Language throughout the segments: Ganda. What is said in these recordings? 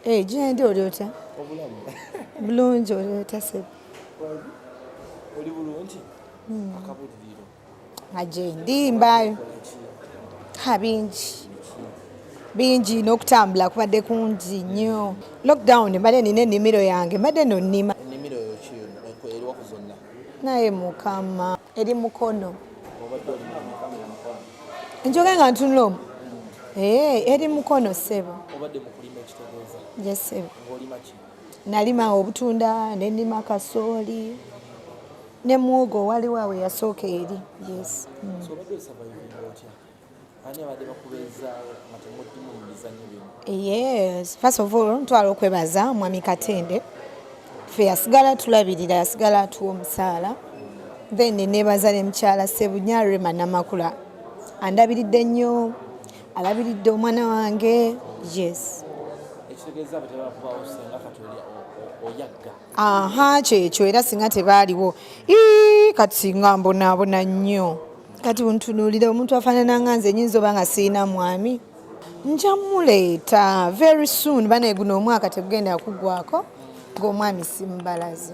Eh, gyendi oli otya bulungi oli otya sebo oli bulungi hmm. akabuliriro nga gyendi mbaayo ha bingi bingi n'okutambula kubadde kungi nnyo lockdown mbadde nina ennimiro yange mbadde nonnima naye mukama eri mukono njoge nga ntunula omu eh, eri mukono sebo yesebo nalima obutunda nenima kasooli ne muwogo waliwo awe yasooka eri yes mm. Yes, first of all ntwala okwebaza mwami Katende ffe yasigala tulabirira yasigala atuwa omusaala then nebaza ne mukyala Sebunya Rema Namakula andabiridde nnyo alabiridde omwana wange yes aha kyekyo era singa tebaaliwo kati singa mbonaabona nnyo kati buntunuulire omuntu afaanana nga nze nyinza oba nga sirina mwami nja muleeta very soon bana eguno omwaka tegugenda kugwako ngaomwami simubalazi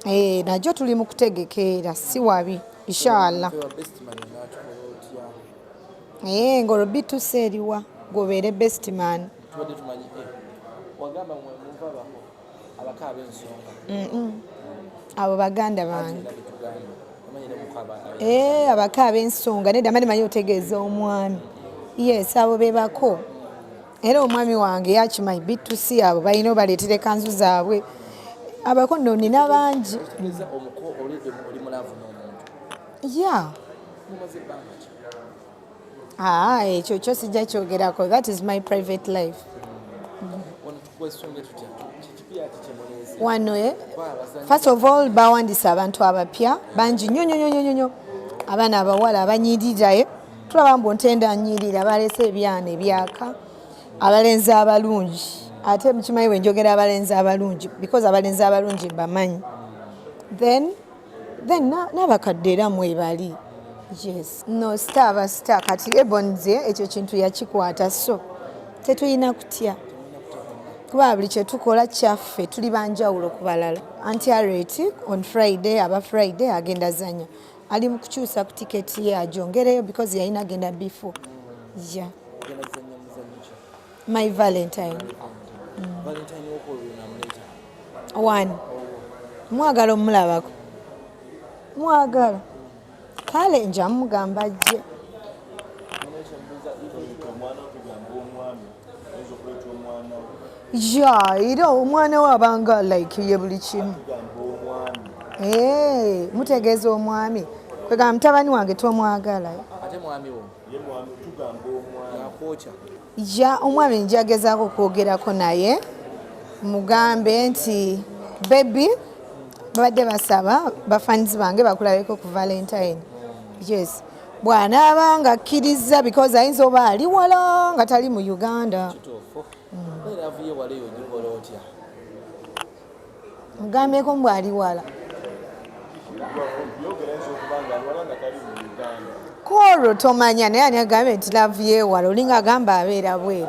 eh, najo tuli mu kutegekeera si wabi inshallah eh, ngolwo bitusa eriwa gobeere bestman eh, abo baganda bange eh, abako ab'ensonga nedda mani manyi otegeeza omwami yes abo bebako era omwami wange yakimanyi bitusi abo balina obaleetera ekanzu zaabwe abako no nina bangi ya Ah, ekyo kyo sijja kyogerako that is my private life wano eh? first of all bawandisa abantu abapya bangi nyo nyo nyo nyo abaana abawala abanyirira eh? tulaba mbu ntenda nyirira balese ebyana ebyaka abalenzi abalungi ate mukimanyi bwe njogera abalenzi abalungi because abalenzi abalungi mbamanyi then then n'abakadde era mwebali yes no star aba star kati ebonze ekyo kintu yakikwata so tetulina kutya kuba buli kyetukola kyaffe tuli banjawulo ku balala anti areti on friday aba friday agenda zanya ali mu kukyusa ku tiketi ye ajongereyo because yalina agenda before ya yeah. my valentine one mwagala omulabako mwagala kale nja mugamba ajje ya era omwana we abanga like ye buli kimu eh, mutegeeza omwami kwegamba mutabani wange tomwagala ja omwami njagezaako okwogerako naye mugambe nti bebi babadde basaba bafanizi bange bakulabeko ku valentine yes bwanaaba nga akkirizza because ayinza oba ali wala nga tali mu uganda mm. mugambyeko mbu ali wala kwolwo tomanya naye ani agambye nti laavu yewala olinga agamba abeera bweru